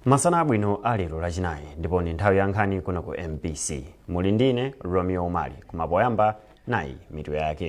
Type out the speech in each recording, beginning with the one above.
masana abwino a lero lachinayi ndipo ndi nthawi ya nkhani kuno ku mbc muli ndine romeo umali koma poyamba nayi mitu yake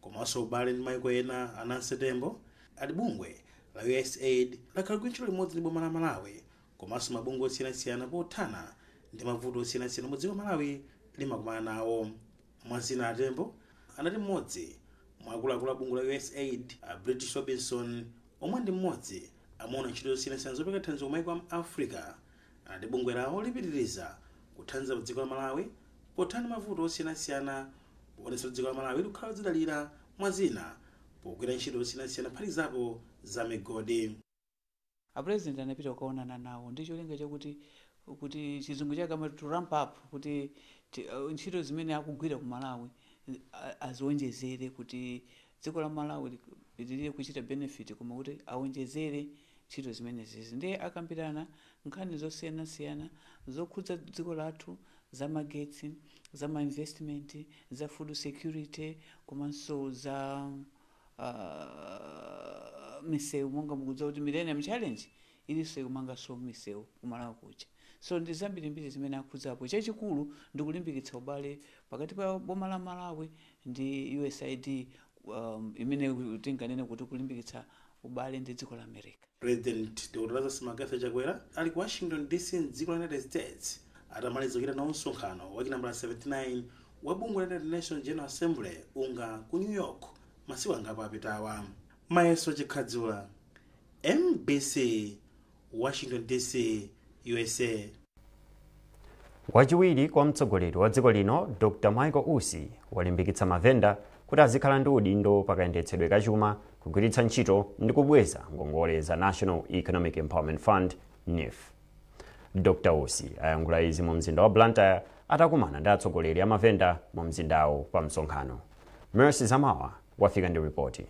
komanso ubale ndi maiko ena a Nancy Tembo ati bungwe la USAID lakhala likugwira ntchito limodzi ndi boma la Malawi komanso mabungwe osiyanasiyana pothana ndi mavuto osiyanasiyana omwe dziko la Malawi limakumana nawo mwa zina a Tembo anati mmodzi mwa akuluakulu a bungwe la USAID a British Robinson omwe ndi mmodzi amaona ntchito zosiyanasiyana zopereka thandizo ku maiko a mu Africa anati bungwe lawo lipitiriza kuthandiza dziko la Malawi pothana ndi mavuto osiyanasiyana poonetsa kuti dziko la Malawi likukhala lodzidalira mwa zina pogwira ntchito zosiyanasiyana kuphatikizapo za migodi. A president anapita kukaonana nawo ndi cholinga chakuti kuti chizungu chake amati to ramp up kuti ti- uh, ntchito zimene akugwira ku Malawi uh, azionjezere kuti dziko la Malawi lipitilire kuchita benefit koma kuti awonjezere ntchito zimenezizi ndiye akambirana nkhani zosiyanasiyana zokhudza dziko lathu za magetsi, za ma investment, za food security komanso za aah miseu monga mukudziwa kuti Millennium Challenge ilinso ikumanganso misewu ku Malawi kuja so ndi zambirimbiri zimene akhudzapo chachikulu ndi kulimbikitsa ubale pakati pa boma la Malawi ndi usaid um, imene tinganene kuti kulimbikitsa ubale ndi dziko la America. President Dr. Lazarus McCarthy Chakwera ali ku Washington DC m'dziko la United States atamaliza kuchita nawo msonkhano wa chinambala 79 wa bungwe la United Nations General Assembly unga ku New York masiku angapo apitawa. Mayeso Chikhadzula, mbc, Washington, D.C. U.S.A. Wachiwiri kwa mtsogoleri wa dziko lino Dr Michael Usi walimbikitsa mavenda kuti azikhala ndi udindo pa kayendetsedwe ka chuma, kugwiritsa ntchito ndi kubweza ngongole za National Economic Empowerment Fund NEEF. Dr Usi ayankhula izi mu mzinda wa Blantyre atakumana ndi atsogoleri a mavenda mu mzindawo pa msonkhano. Mercy Zamawa wafika ndi ripoti.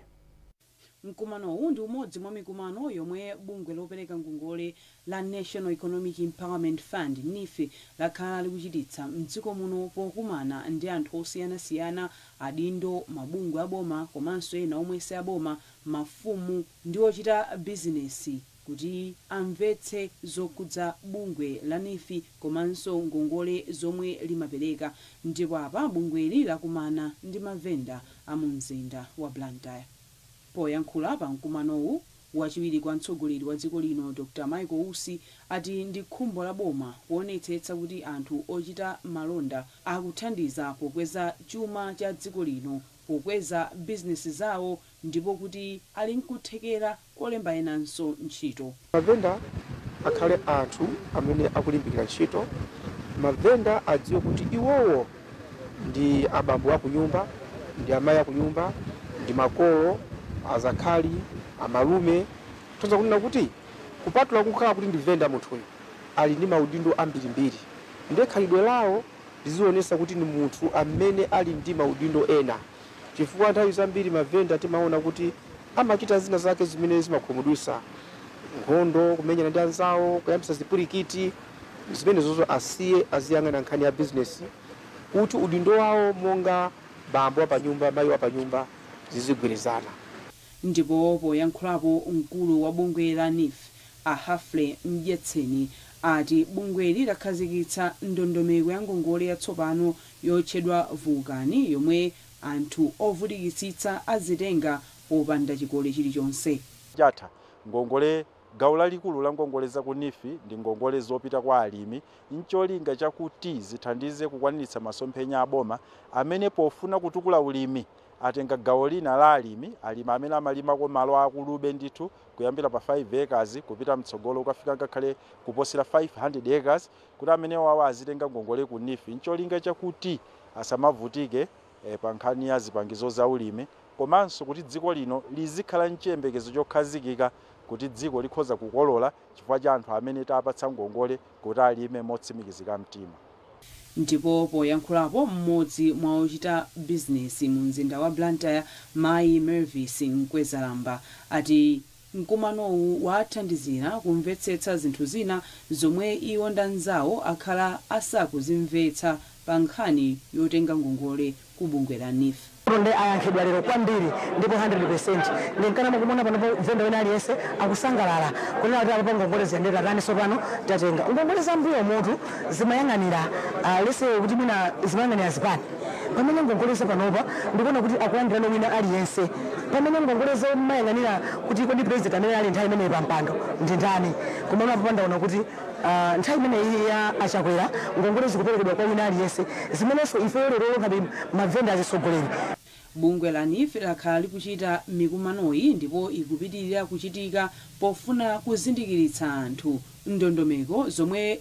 Mkumanowu ndi umodzi mwa mikumano yomwe bungwe lopereka ngongole la National Economic Empowerment Fund, Neef, lakhala likuchititsa m'dziko muno pokumana ndi anthu osiyanasiyana, adindo, mabungwe aboma komanso ena omwe si aboma, mafumu ndi ochita bizinesi. kuti amvetse zokhudza bungwe la neef komanso ngongole zomwe limapereka ndipo apa bungweli lakumana ndi mavenda a mu mzinda wa Blantyre. Poyankhula pa mkumanowu, wachiwiri kwa mtsogoleri wa dziko lino Dr Michael Usi ati ndi khumbo la boma kuonetsetsa kuti anthu ochita malonda akuthandiza pokweza chuma cha dziko lino pokweza bizinesi zawo ndipo kuti ali nkuthekera kolemba enanso ntchito. Mavenda akhale anthu amene akulimbikira ntchito. Mavenda adziwe kuti iwowo ndi abambo akunyumba, ndi amai akunyumba, ndi makolo, azakhali, amalume. Kutanthauza kunena kuti kupatula kukhala kuti ndi venda munthuyu ali ndi maudindo ambirimbiri ndiye khalidwe lawo lizionetsa kuti ndi munthu amene ali ndi maudindo ena. Chifukwa nthawi zambiri mavenda timaona kuti amachita zina zake zimene zimakhumudwisa, nkhondo, kumenyana ndi anzawo, kuyambisa zipwilikiti, zimenezozo asiye aziyang'ana nkhani ya bizinesi kuti udindo wawo monga bambo wa panyumba, mayi wa panyumba zizigwirizana. Ndipo poyankhulapo mkulu wa bungwe la neef a Humphrey Mdyetseni ati bungweli lakhazikitsa ndondomeko ya ngongole yatsopano yotchedwa Vulkani yomwe anthu ovutikitsitsa azitenga popanda chikole chilichonse. chatha. Ngongole Gawo lalikulu la ngongole za ku neef ndi ngongole zopita kwa alimi ncholinga chakuti zithandize kukwaniritsa masomphenya a boma amene pofuna kutukula ulimi atenga gawo lina la alimi alimi amene amalima ko malo aakulube ndithu kuyambira pa 5 acres kupita mtsogolo kukafika ngakhale kuposera 500 acres kuti amenewawa azitenga ngongole ku NEEF n'cholinga chakuti asamavutike pa nkhani ya zipangizo zaulimi komanso kuti dziko lino lizikhala n'chiyembekezo chokhazikika kuti dziko likhoza kukolola chifukwa cha anthu amene tapatsa ngongole kuti alime motsimikizika mtima. Ndipo poyankhulapo, mmodzi mwa ochita bizinesi mu mzinda wa Blantyre, mayi Mervis Mkwezalamba ati Mkumanowu waathandizira kumvetsetsa zinthu zina zomwe iwo ndi anzawo akhala asakuzimvetsa pa nkhani yotenga ngongole ku bungwe la neef. Tonde ayankhidwa lero kwambiri ndipo 100% nde nkana mukumaona panopo venda wina aliyense akusangalala kunena kuti apapa ngongole zija nde tatani sopano tatenga. Ngongole za mmbuyomutu zimayang'anira lets say kuti mwina zimayang'anira zipani. Pamene ngongole za panopa ndikuona kuti akulandirano wina aliyense pamene ngongole zumayang'anira kuti kodi president amene anali nthawi imeneyo pa mpando ndi ndani komano apapa ndaona kuti Uh, nthawi imeneyi ya a Chakwera ngongole zikuperekedwa kwa wina aliyense zimenenso ifeyo lerolo ngati mavenda azitsogoleri Bungwe la NEEF lakhala likuchita mikumanoyi ndipo ikupitilira kuchitika pofuna kuzindikiritsa anthu ndondomeko zomwe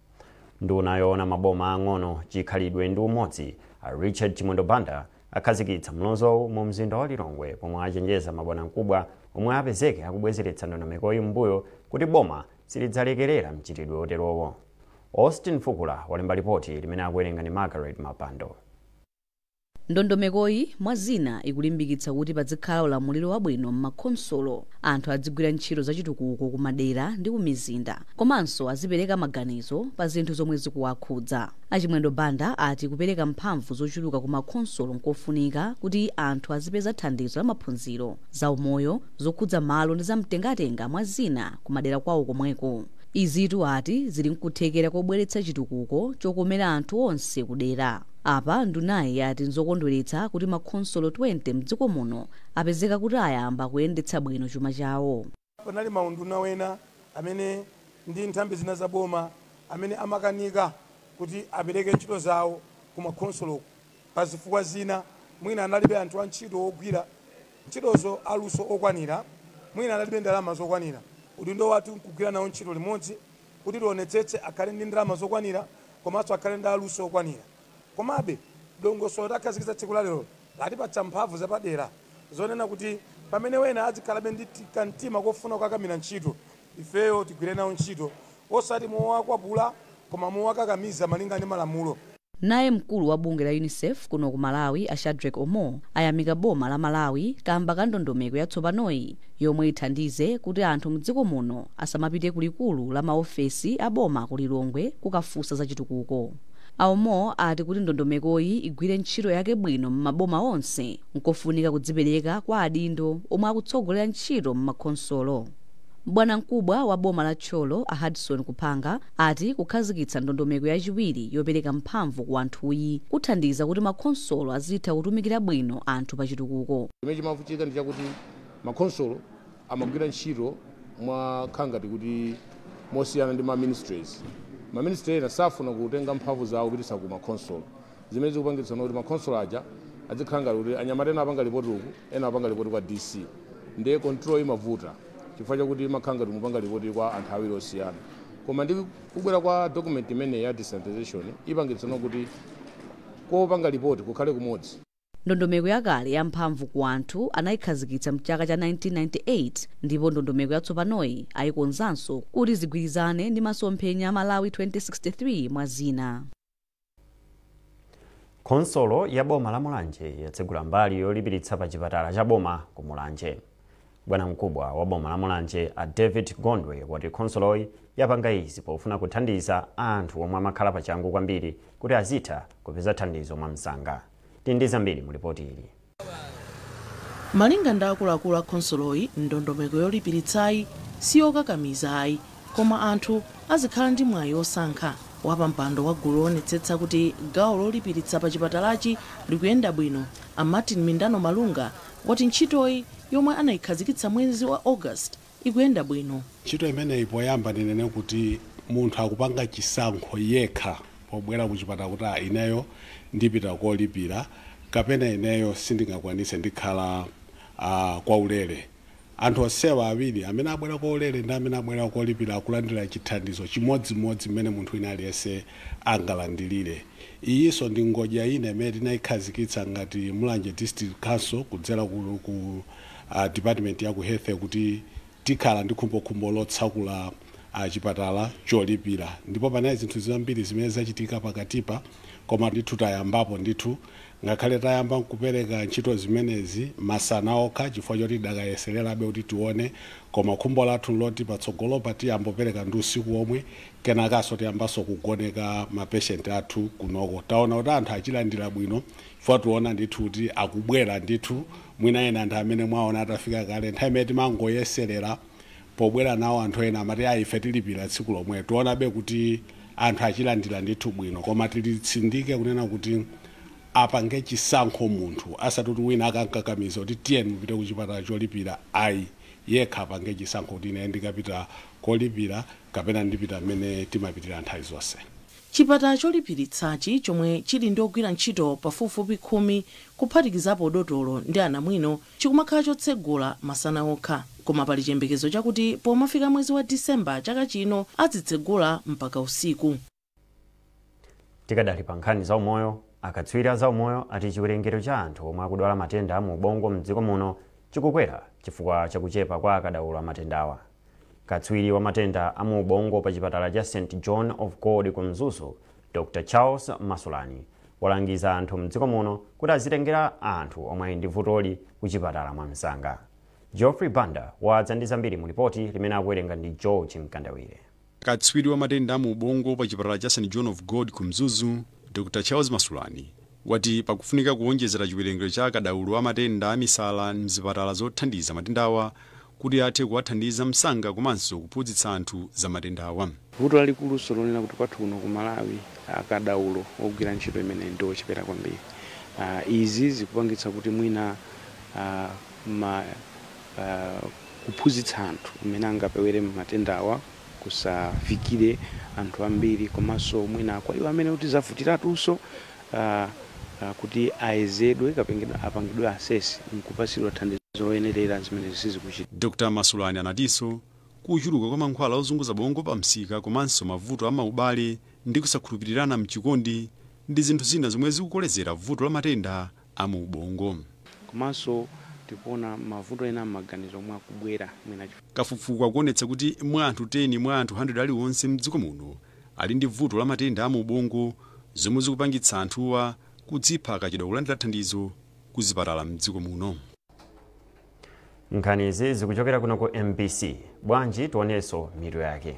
Nduna yoona maboma aang'ono, chikhalidwe ndi umodzi, a Richard Chimwendo Banda, akhazikitsa mlozowu mu mzinda wa Lilongwe pomwe achenjeza mabwanamkubwa omwe apezeke akubwezeretsa ndondomekoyi m'mbuyo kuti boma silidzalekerera mchitidwe oterowo. Austin Fukula walemba lipoti limene akuwerenga ndi Margaret Mapando. Ndondomekoyi, mwa zina, ikulimbikitsa kuti padzikhala ulamuliro wabwino m'makhonsolo, anthu adzigwira ntchito zachitukuko kumadera ndi kumizinda, komanso azipereka maganizo pa zinthu zomwe zikuwakhudza. A Chimwendo Banda ati kupereka mphamvu zochuluka ku makhonsolo n'kofunika kuti anthu azipeza thandizo la maphunziro, za umoyo, zokhudza malo ndi za mtengatenga, mwa zina, kumadera kwawo komweko. Izitu ati zili n'kuthekera kobweretsa chitukuko chokomera anthu onse kudera. Apa ndunayi yati nzokondweretsa kuti makhonsolo 20 m'dziko muno apezeka kuti ayamba kuyendetsa bwino chuma chawo. Panali maunduna wena amene ndi nthambi zina za boma amene amakanika kuti apereke ntchito zawo ku makhonsolo pa zifukwa zina, mwina analibe anthu antchito wogwira ntchitozo aluso okwanira, mwina analibe ndalama zokwanira. Udindo wathu nkugwira nawo ntchito limodzi kuti tionetsetse akhale ndi ndalama zokwanira komanso akhale ndi aluso okwanira. Komabe, dongosolo takhazikitsa tsiku lalero latipatsa mphamvu zapadera zonena kuti pamene wena adzikhalabe ndi kamtima kofuna kukakamira ntchito, ifeyo tigwire nawo ntchito osati mowakwapula koma mowakakamiza malinga ndi malamulo. Naye mkulu wa bungwe la Unicef kuno ku Malawi a Shadrack Omol ayamika boma la Malawi kamba ka ndondomeko yatsopanoyi yomwe ithandize kuti anthu mdziko muno asamapite ku likulu la ma ofesi a boma ku Lilongwe kukafunsa za chitukuko. A Omol ati kuti ndondomekoyi igwire ntchito yake bwino m'maboma onse, nkofunika kudzipereka kwa adindo omwe akutsogolera ntchito m'makhonsolo. Bwanamkubwa wa boma la Thyolo a Hudson Kuphanga ati kukhazikitsa ndondomeko yachiwiri yopereka mphamvu ku anthuyi kuthandiza kuti makhonsolo azitha kutumikira bwino anthu pa chitukuko. Chimene chimavutika ndi chakuti makhonsolo amagwira ntchito mokhala ngati kuti mosiyana ndi ma ministries. Ma ministry ena safuna kutenga mphamvu zawo kupititsa ku makhonsolo zimene zikupangitsa kuti makhonsolo aja adzikhala ngati kuti anyamata ena apanga lipoti uku, ena amapanga lipoti kwa DC ndiye control imavuta chifukwa chakuti imakhala ngati mukupanga lipoti kwa anthu awiri osiyana koma ndi kubwera kwa document imeneyi ya decentralization ipangitsa kuti kopanga lipoti kukhale kumodzi. Ndondomeko yakale ya mphamvu ku anthu anayikhazikitsa mchaka cha 1998 ndipo ndondomeko yatsopanoyi ayikonzanso kuti zigwirizane ndi masomphenya a Malawi 2063 mwa zina. Khonsolo ya boma la Mulanje yatsegula mbali yolipiritsa pa chipatala cha boma ku Mulanje. Bwanamkubwa wa boma la Mulanje a David Gondwe wati khonsoloyi yapanga izi pofuna kuthandiza anthu omwe amakhala pachangu kwambiri kuti azitha kupeza thandizo mwamsanga. Tili ndi zambiri mu lipoti ili. Malinga ndi akuluakulu a khonsoloyi, ndondomeko yolipiritsayi si yokakamiza ayi koma anthu azikhala ndi mwayi wosankha. Wapampando wa gulu loonetsetsa kuti gawo lolipiritsa pa chipatalachi likuyenda bwino, a Martin Mindano Malunga, wati ntchitoyi, yomwe anaikhazikitsa mwezi wa August ikuyenda bwino. Ntchito imeneyi poyamba ndinene kuti munthu akupanga chisankho yekha pobwera kuchipatala kuti ah ineyo ndipita kolipira kapena ineyo sindingakwanitse ndikhala ah kwaulere. Anthu onsewa awiri amene abwera kwaulere ndi amene abwera kolipira akulandira chithandizo chimodzimodzi mmene munthu wina aliyense angalandilire. Iyinso ndi ngodya ina imene tinaikhazikitsa ngati Mulanje District Council kudzera ku a department ya ku health kuti tikhala ndi khumbokhumbo lotsakula a chipatala cholipira ndipo panali zinthu zambiri zimene zachitika pakatipa koma ndithu tayambapo ndithu ngakhale tayamba nkupereka ntchito zimenezi masana okha chifukwa choti tidakayesererabe kuti tione koma khumbo lathu nloti patsogolopa tiyambe kupereka ndi usiku womwe kenakaso tiyambaso kugoneka mapeshenti athu kunoko taona kuti anthu achilandira bwino chifukwa tikuona ndithu kuti akubwera ndithu mwina ena anthu amene mwaona atafika kale nthawi imene timangoyeserera pobwera nawo anthu ena amati ayi ife tilipira tsiku lomwe tikuonabe kuti anthu achilandira ndithu bwino koma tilitsindike kunena kuti apange chisankho munthu asati kuti wina akamukakamiza kuti tiyeni mupite kuchipatala cholipira ayi yekha apange chisankho kuti ine ndikapita kolipira kapena ndipita mmene timapitira nthawi zonse Chipatala cholipiritsachi, chomwe chili ndi ogwira ntchito pafupifupi khumi kuphatikizapo dotolo ndi anamwino, chikumakhala chotsegula masana okha. Koma pali chiyembekezo chakuti pomafika mwezi wa December chaka chino azitsegula mpaka usiku. Tikadali pa nkhani za umoyo, akatswiri a zaumoyo ati chiwerengero cha anthu omwe akudwala matenda a mu ubongo m'dziko muno chikukwera chifukwa cha kuchepa kwa akadaulo a matendawa. Katswiri wa matenda a mu ubongo pa chipatala cha St John of God ku Mzuzu, Dr Charles Masulani, walangiza anthu m'dziko muno kuti azitengera anthu omwe ndi vutoli kuchipatala mwamsanga. Geoffrey Banda wadza ndi zambiri mu lipoti limene akuwerenga ndi George Mkandawire. Katswiri wa matenda a mu ubongo pa chipatala cha St John of God ku Mzuzu, Dr Charles Masulani, wati pakufunika kuwonjezera chiwerengero cha akadaulo a matenda a misala m'zipatala zothandiza matendawa kuti athe kuwathandiza msanga komanso kuphunzitsa anthu za matendawa. Vuto lalikulunso lonena kuti kwathu kuno ku Malawi akadaulo ogwira ntchito imeneyi ndi ochepera kwambiri. Izi zikupangitsa kuti mwina kuphunzitsa anthu mmene angapewere matendawa kusafikire anthu ambiri komanso mwina kwa iwo amene kuti zavutiratunso kuti ayezedwe kapena apangidwe assess n'kupatsidwa thandizo loyenerera, zimene sizikuchita. Dr. Masulani anatinso kuchuluka kwa mankhwala ozunguza bongo pamsika komanso mavuto a maubale ndi kusakhulupirirana m'chikondi ndi zinthu zina zomwe zikukolezera vuto la matenda a mu ubongo. Komanso tikuona mavuto ena a m'maganizo omwe akubwera mwina. Kafukufuku akuonetsa kuti mwa anthu 10 mwa anthu 100 aliwonse mdziko muno ali ndi vuto la matenda a mu ubongo zomwe zikupangitsa anthuwa kudzipha akachedwa kulandira thandizo ku zipatala mdziko muno. Nkhanizi zikuchokera kuno ku mbc. Bwanji tionenso mitu yake.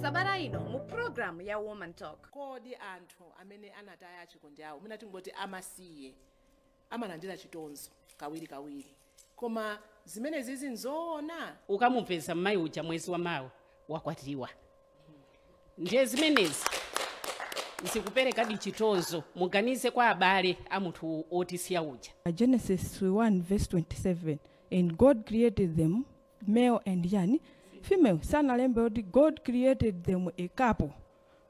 sabata ino mu programu ya woman talk kodi anthu amene anataya achikondi awo mwina tingoti amasiye amalandira chitonzo kawiri kawiri koma zimene zizi nzoona ukamupeza mmayi uja mwezi wa mawa wakwatiwa ndiye zimenezi zikuperekadi chitonzo muganize kwa abale a munthu otisiya uja Genesis 1 verse 27 and God created them male and yani female sanalembe kuti god created them a couple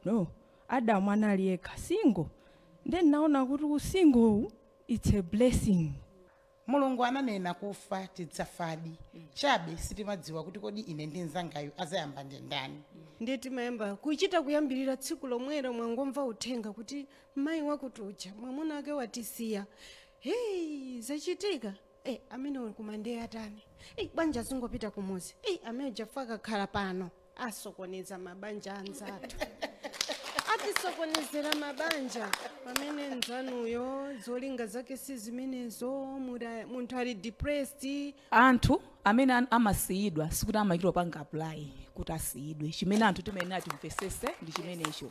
no adamu anali yekha single nde ndinaona kuti usingowu it's a blessing mulungu ananena kufa tidzafadi chabe sitimadziwa kuti kodi ine ndi mnzangayu azayamba ndi ndani ndiye timayamba kuchita kuyambirira tsiku lomwelo mwangomva uthenga kuti mayi wakutuja mwamuna wake watisiya heyi zachitika Eh, amene uli kuma ndiye atani Eh, bwanji azingopita kumudzi Eh, ameneuja akakhala pano asokoneza mabanja anzathu atisokonezera mabanja pamene nzanuyo zolinga zake si zimenezo muda- munthu ali depressed anthu amene an- amasiyidwa sikuti amachita kupanga apply kuti asiyidwe chimene anthu timayenera timvetsetse ndi chimenecho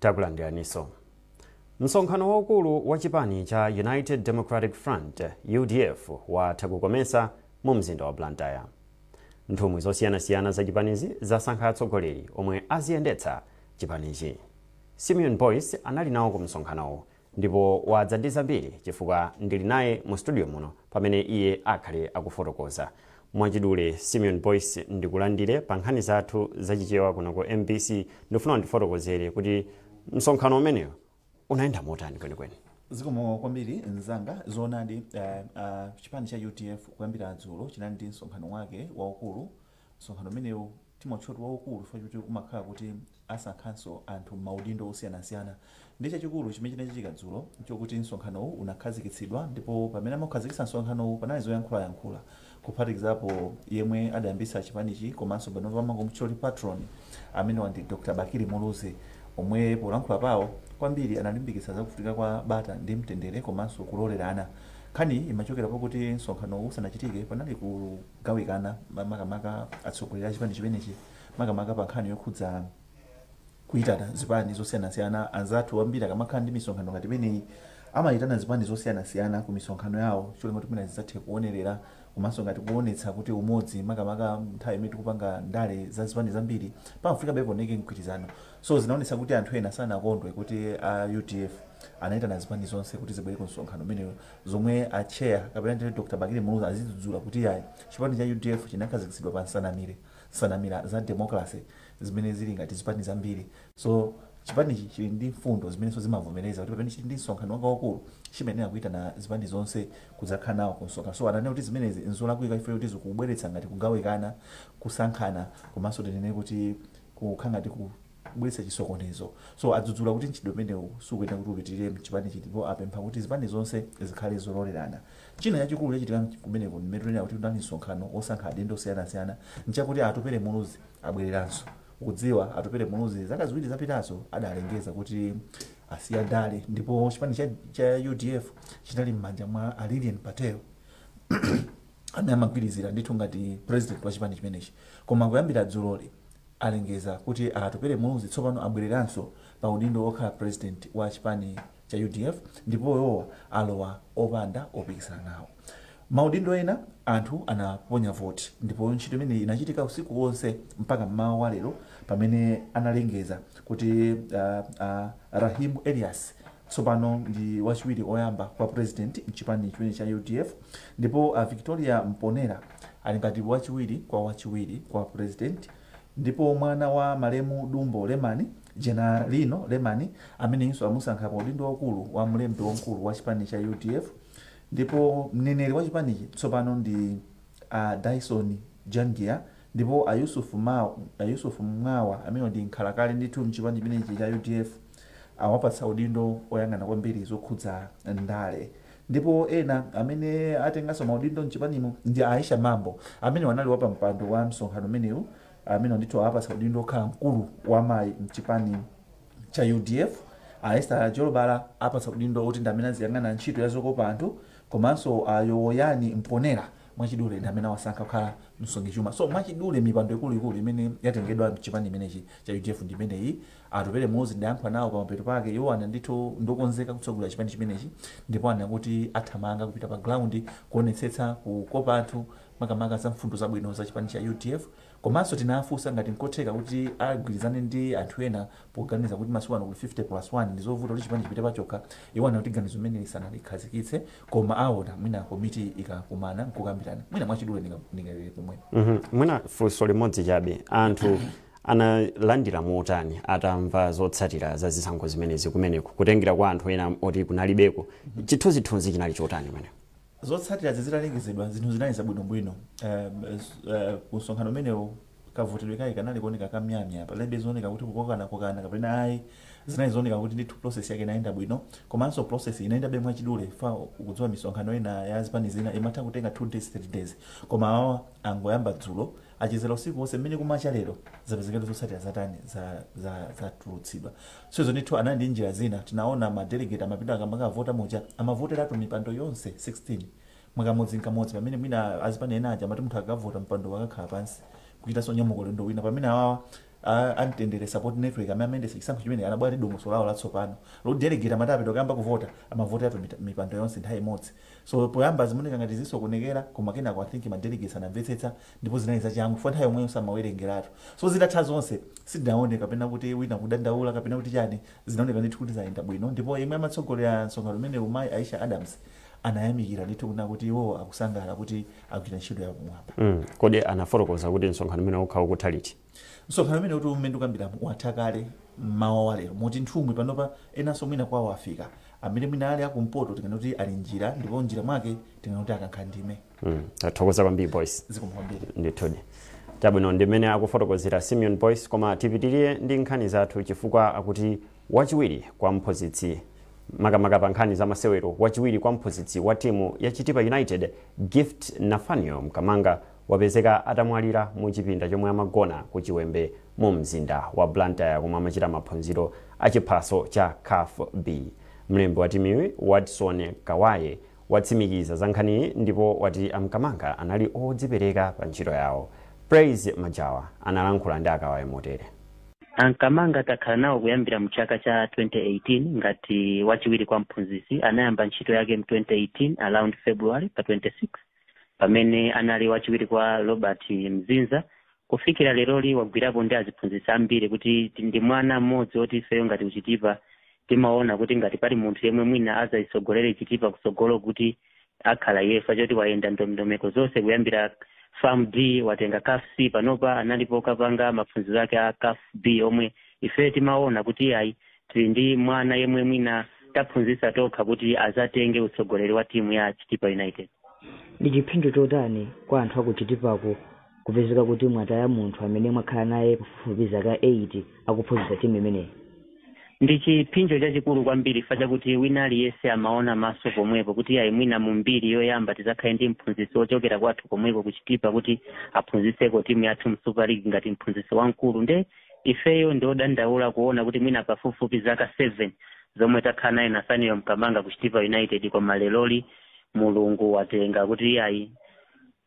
Takulandiraniso. Msonkhano waukulu wa chipani cha United Democratic Front, udf, watha ku Comesa mu mzinda wa Blantyre. Nthumwi zosiyanasiyana za chipanizi zasankha atsogoleri omwe aziyendetsa chipanichi. Simeon Boyce anali nawo ku msonkhanowu Ndipo wadza ndi zambiri, chifukwa ndiri naye mu studio muno pamene iye akhale akufotokoza. Mwachidule, Simeon Boyce, ndikulandire pa nkhani zathu za Chichewa kuno ku mbc. Ndikufuna undifotokozere kuti msonkhano umenewu unayenda motani kwenikweni. Zikomo kwambiri mzanga. Zoonadi, uh, uh, chipani cha udf kuyambira dzulo chinali ndi msonkhano wake waukulu Msonkhano umenewu timautchula kuti waukulu chifukwa choti umakhala kuti asankhanso anthu m'maudindo osiyanasiyana. Ndiye chachikulu chimene chinachitika dzulo n'chokuti msonkhanowu unakhazikitsidwa ndipo pamene amaukhazikitsa msonkhanowu panali zoyankhulayankhula kuphatikizapo yemwe adayambitsa chipanichi komanso panopa amangomutchula kuti patron, amenewo ndi Dr Bakili Muluzi omwe polankhula pawo kwambiri analimbikitsa za kufunika kwa bata ndi mtendere komanso kulolerana. Nkhaniyi imachokera pakuti msonkhanowu usanachitike panali ku. gawikana ma- makamaka atsogoleri a chipani chimenechi makamaka pa nkhani yokhudza kuyitana zipani zosiyanasiyana anzathu ambiri akamakhala ndi misonkhano ngati imeneyi amayitana zipani zosiyanasiyana ku misonkhano yawo cholinga kuti mwina zidzathe kuonerera komanso ngati kuonetsa kuti umodzi makamaka nthawi imene tikupanga ndale za zipani zambiri pamafunikabe pawoneke mgwirizano so zinaonetsa kuti anthu ena sanakondwe kuti a udf anayitana zipani zonse kuti zibwere ku msonkhano umeneyo zomwe a chair kapena ndithu Dr Bakili Muluzi azidzudzula kuti yayi chipani cha udf chinakhazikitsidwa pa nsanamire nsanamira za democracy zimene zili ngati zipani zambiri so chipanichi chili ndi mfundo zimenenso zimavomereza kuti pamene chili ndi msonkhano wake waukulu chimayenera kuitana zipani zonse kudzakhala nawo ku msonkhano so ananena kuti zimenezi nzolakwika chifukwa choti zikubweretsa ngati kugawikana kusankhana komanso tinene kuti kukhala ngati ku kubweretsa chisokonezo. So adzudzula kuti mchitidwe umenewu sukuyenera kuti upitilire mchipanichi ndipo apempha kuti zipani zonse zikhale zololerana. China chachikulu chachitika kumeneko mumayo ndimanena kuti kunali msonkhano wosankha adindo osiyanasiyana nchakuti a Atupele Muluzi abwereranso. Mukudziwa Atupele Muluzi zaka ziwiri zapitazo adalengeza kuti asiya ndale ndipo chipani cha, cha udf chinali m'manja mwa a Lilian Patel amene amagwirizira ndithu ngati president wa chipani chimenechi koma kuyambira dzuloli alengeza kuti a Atupele Muluzi tsopano abwereranso pa udindo wokhala president wa chipani Cha udf ndipo iwowa alowa opanda opikisana nawo maudindo ena anthu anaponya voti ndipo ntchito imeneyi inachitika usiku wonse mpaka m'mawa wa lero pamene analengeza kuti a Raheem Elias tsopano ndi wachiwiri oyamba kwa president mchipani chimene cha udf ndipo a victoria mponera ali ngati wachiwiri kwa wachiwiri kwa president ndipo mwana wa malemu dumbo lemani jenalino lemani ameneyinso amusankha pa udindo waukulu wa mlembi wamkulu wa chipani cha udf ndipo mneneri wa chipanichi tsopano ndi a dyson jangia ndipo a yusuf Mao- a yusuf mwawa amene ndi nkhalakale ndithu mchipani chimenechi cha udf awapatsa udindo oyang'ana kwambiri zokhudza ndale ndipo ena amene atenganso maudindo mchipanimu ndi aisha mambo amene anali wapampando wa msonkhano umenewu amene ndithu awapatsa udindo okhala mkulu wa amayi mchipani cha udf a esther jolobala awapatsa udindo oti ndi amene aziyang'ana ntchito ya zokopa anthu komanso a yowoyani mponera mwachidule ndi amene awasankha kukhala msungichuma so mwachidule mipando ikuluikulu imene yatengedwa mchipani chimenechi cha udf ndi imeneyi Atupele Muluzi ndidayankhula nawo pamapeto pake. Iwo anati ndithu ndiokonzeka kutsogolera chipani chimenechi ndipo anena kuti athamanga kupita pa ground kuonetsetsa kukopa anthu makamaka za mfundo zabwino za chipani cha udf komanso tinawafunsa ngati nkotheka kuti agwirizane ndi anthu ena poganiza kuti masiku ano kuli 50 plus 1 ndizovuta kuti chipani chipite pachokha. Iwo anena kuti ganizo limeneli sanalikhazikitse koma aona mwina komiti ikakumana nkukambirana. Mwina mwachidule ndingalekere pomwepa. Mwina funso limodzi chabe. Anthu analandira motani atamva zotsatira za zisankho zimenezi kumeneko kutengera kwa anthu ena oti kunalibeko chithunzithunzi chinali chotani kumeneko zotsatira zitalengezedwa zinthu zinali zabwinobwino Eh, z- eh, ku msonkhano umenewo kavotedwe kake kanali kuoneka kamyamya palibe zooneka kuti kukokana kokana kapena ayi zinali zooneka kuti ndithu process yake inayenda bwino komanso process inayendabe mwachidule chifukwa mukudziwa misonkhano ina ya zipani zina imatha kutenga 2 days 3 days koma awa angoyamba dzulo achezera usiku wonse mmene kumacha lero zapezeka zotsatira zatani zatulutsidwa so izo ndithu anali ndi njira zina tinaona madelegate amati apita akamakavota muja amavoteratu mipando yonse 16 mwakamodzi nkamodzi pamene mwina azipani ena aja amati munthu akavota mpando akakhala pansi kuchitanso nyamuko ulendo wina pamene awawa A Mtendere Support Network amene amayendetsa chisankho chimenechi anabwera ndi dongosolo lawo latsopano loti delegate amati apita kukayamba kuvota, amavoteratu mipando yonse nthawi imodzi. So poyamba zimaoneka ngati zisokonekera koma kenako I think ma delegates anamvetsetsa ndipo zinali zachangu chifukwa nthawi yomweyonso amawerengeratu. So zitatha zonse, sitinaone kapena kuti wina kudandaula kapena kuti chani, zinaoneka ndithu kuti zayenda bwino ndipo yemwe amatsogolera msonkhano umenewu Mayi Aisha Adams anayamikira ndithu kunena kuti iwowo akusangalala kuti agwira ntchito yapamwamba. mm kodi anafotokoza kuti msonkhano umenewu ukhala ukutha liti? msonkhano umene kuti umene ndikukambiramo watha kale mmawa wa lero moti nthumwi panopa enanso mwina kwawo afika amene mwina ali akumpoto tikanena kuti ali m'njira ndipo m'njira mwake tikanena kuti akankha ndime Mm, tathokoza kwambiri Boyce zikomo kwambiri ndithudi chabwino ndi mmene akufotokozera Simeon Boyce koma tipitirire ndi nkhani zathu chifukwa akuti wachiwiri kwa mphunzitsi makamaka pa nkhani za masewero wachiwiri kwa mphunzitsi wa timu ya chitipa united gift Nathaniel mkamanga wapezeka atamwalira mu chipinda chomwe amagona ku Chiwembe mu mzinda wa Blantyre komwe amachita maphunziro a chiphaso cha caf B. Mlembi wa timuyi, Watson Kawaye, watsimikiza za nkhaniyi ndipo wati a Mkamanga anali odzipereka pa ntchito yawo. Praise Majawa analankhula ndi a Kawaye motere. A Mkamanga takhala nawo kuyambira mu chaka cha 2018 ngati wachiwiri kwa mphunzitsi. Anayamba ntchito yake mu 2018 around February pa 26. pamene anali wachiwiri kwa Robert Mzinza kufikira leroli wagwirapo ndi aziphunzitsi ambiri kuti ti- ndi mwana mmodzi woti ifeyo ngati kuchitipa timaona kuti ngati pali munthu yemwe mwina azayitsogolere chitipa kutsogolo kuti akhala yefa choti wayenda ndondomeko zonse kuyambira FAM D watenga caf c panopa analipo kapanga maphunziro ake a caf b omwe ifeyo timaona kuti ayi Tili ndi mwana yemwe mwina taphunzitsa tokha kuti azatenge utsogoleri wa timu ya Chitipa United. Ndi chiphinjo chotani kwa anthu aku Chitipako kupezeka kuti mwataya munthu amene mwakhala naye pafupifupi zaka 8 akuphunzitsa timu imeneyi? Ndi chiphinjo chachikulu kwambiri chifukwa chakuti wina aliyense amaona maso pomwepo kuti iyayi mwina mu mbiri yoyamba tizakhale ndi mphunzitsi wochokera kwathu komweko ku Chitipa kuti aphunzitseko timu yathu mu Super League ngati mphunzitsi wamkulu nde Ifeyo ndi odandaula kuona kuti mwina pafupifupi zaka 7 zomwe takhala naye Nathaniel Mkamanga ku Chitipa United koma leroli Mulungu watenga kuti iyayi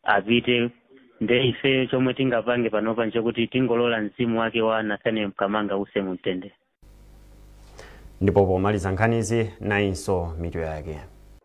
apite nde ifeyo chomwe tingapange panopa nchokuti tingolola mzimu wake wa Nathaniel Mkamanga uuse mu mtendere. Ndipo pomaliza nkhanizi nayinso mitu yake.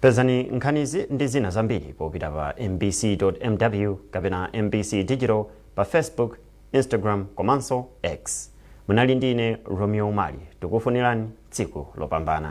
pezani nkhanizi ndi zina zambiri popita pa mbc.mw kapena mbc digital pa facebook instagram komanso x munali ndi ine romeo umali tikufunirani tsiku lopambana